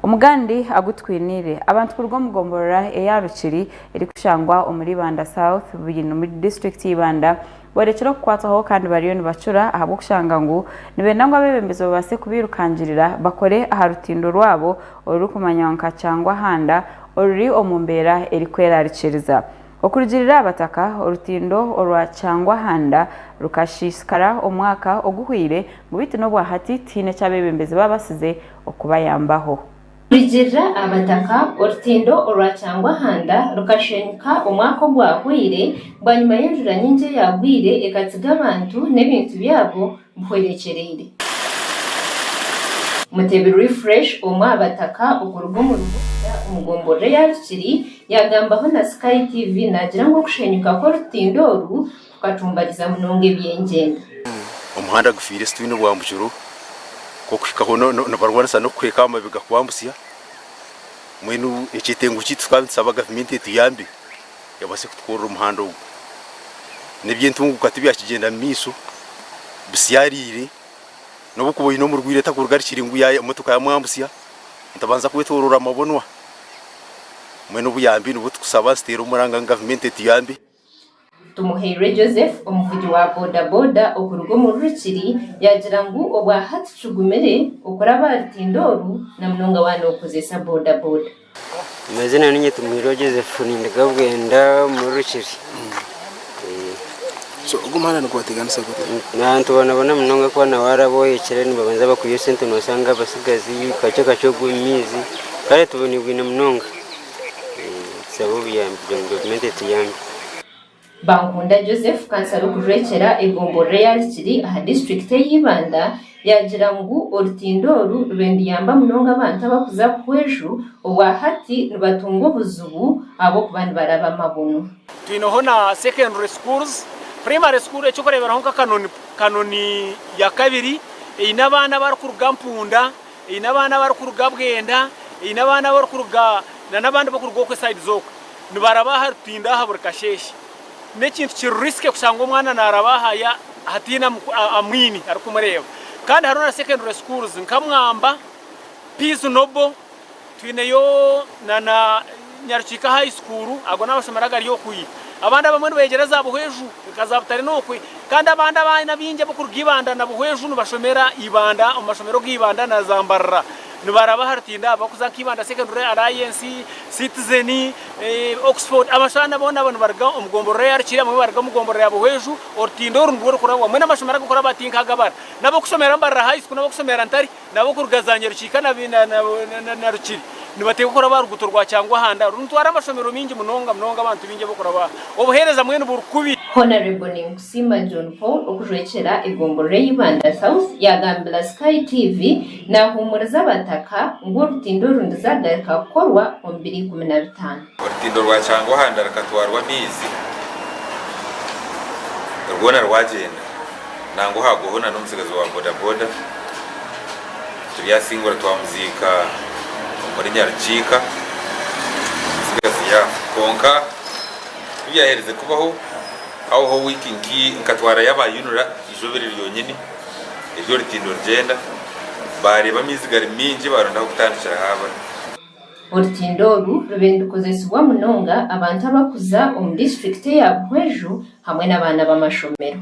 Omugandi agu twiniire. Abantu kuruga omu gomborora eya Rukiri erikushangwa omuri Ibanda South Bwini omuri disiturikiti y'Ibanda borekire okukwatwaho kandi bariyo nibacura ahabw'okushanga ngu nibenda ngu abebembezi babaase kubairukangirira bakore aha rutindo rwabo orurikumanywa nka Kyangwahanda oruri omu mbeera erikwerarikiriza. Okurugiirira abataka, orutindo orwa Kyangwahanda rukashiisikara omwaka oguhweire ngu beitu n'obwahati tihaine eki abebembezi babaasize okubayambaho. Kurigirira Abataka, Orutindo orwa Kyangwahanda rukashwenyuka omwaka ogwahweire bwanyima y'enjura nyingi eyagwire ekatsiga abantu n'ebintu byabo bihwerekyereire. Mutebi Refresh omwe aha Bataka okuruga omu Ruhurura omu gomborora eya Rukiri yagambaho na Sky TV nagira ngu okushenyuka kw'orutindo oru, tukatumbariza munonga ebyengyenda. Omuhanda gufiire situyine bwambukiro kokuhikaho nibarwanisa nokukweka ahamabega kwambutsya mbwenu ekyetengo kyeitu tukaba nitusaba gavumenti etuyambe ebase kutukorera omuhanda ogu nebyentunguka tibyakigyenda mumaiso bisyariire nobukuba oyine omurwaire takurugarikire ngu emotoka yamwambutsya nitubanza kwetorora amabunwa mbwenu obuyambi nibwo tukusaba nituteera omuranga ngu gavumenti etuyambe. Tumuhairwe Joseph omuvugi wa bodaboda okuruga omu Rurukiri yaagira ngu obwa hati kigumire okuraba aha rutindo oru na munonga waaba nookozesa bodaboda. Amazina niinye Tumuhairwe Joseph ninduga Bwenda omu Rurukiri. Ogu muhanda nigwateganisa guta? Abantu bonaboona munonga ku waaba waaraba ohekire nibabanza bakwiha esente noshanga abatsigazi kakye kakye ogwe omu maizi kare tuboniibwine munonga. Bankunda Joseph, kansara okurwekyera egombolola eya Rukiri aha disiturikiti ey'e Ibanda yaagira ngu orutindo oru rube niruyamba munonga abantu abarikuza Buhweju obwa hati nibatunga obuzibu ahabw'okuba nibaraba amabunu. Twineho na secondary schools, primary school ekyokureeberaho nka Kanoni ya kabiri eine abaana abarikuruga Mpunda. Eine abaana abarikuruga Bwenda, eine abaana abarikuruga nana abandi barikuruga okwe side zoka nibaraba aha rutindo aha buri kasheshe. N'ekintu kiri risky kushanga omwana naraba aha ya hataine amwine arikumureba. Kandi hariho na secondary schools nka Mwamba, Peace Noble. Twineyo na na Nyarukiika High School, ago n'amashomero agari okwo i. Abandi abamwe nibeyegyera za Buhweju nka za Butare n'okwe, kandi abandi abaana abaingi ab'okuruga Ibanda na Buhweju nibashomera Ibanda omu mashomero ga Ibanda na za Mbarara nibaraba aha rutindo aho barikuza nka Ibanda Secondary, Alliance, Citizen, Oxford. Abashaana boona abo nibaruga omu gomborora eya Rukiri, abamwe nibaruga omu gomborora ya Buhweju. Orutindo oru nirwo rurikurabwamu hamwe n'amashomero ag'okuraba ati nk'aga Bara, n'ab'okushomera Mbarara High School n'ab'okushomera Ntare. N'ab'okuruga za Nyarukiika na Rukiri nibateeka okuraba aha ruguuto rwa Kyangwahanda orunitwara amashomero maingi munonga munonga abantu baingi ab'okuraba obuheereza mbwenu buri kubi. Honarebo Ninkusiima John Paul okujurekyera egomborora eya Ibanda South yagambira Sky TV nahuumuriza abataka ngu orutindo oru nizagarika kukorwa omu biro ikumi na bitaano. Orutindo rwa Kyangwahanda rukatwarwa amaizi rwona rwagyenda nangwa hagwaho na n'omutsigazi wa bodaboda turyasingura twamuziika omuri Nyarukiika omutsigazi yaafa kwonka ku byaherize kubaho habaho wiiki nkatwarayo aba UNRA eizooba ryonyine eri orutindo rugyenda bareeba amaizi gari maingi baronda ah'okutandikira haabura. Orutindo oru rube nirukozesibwa munonga abantu abakuza omu disiturikiti eya Buhweju hamwe n'abaana b'amashomero.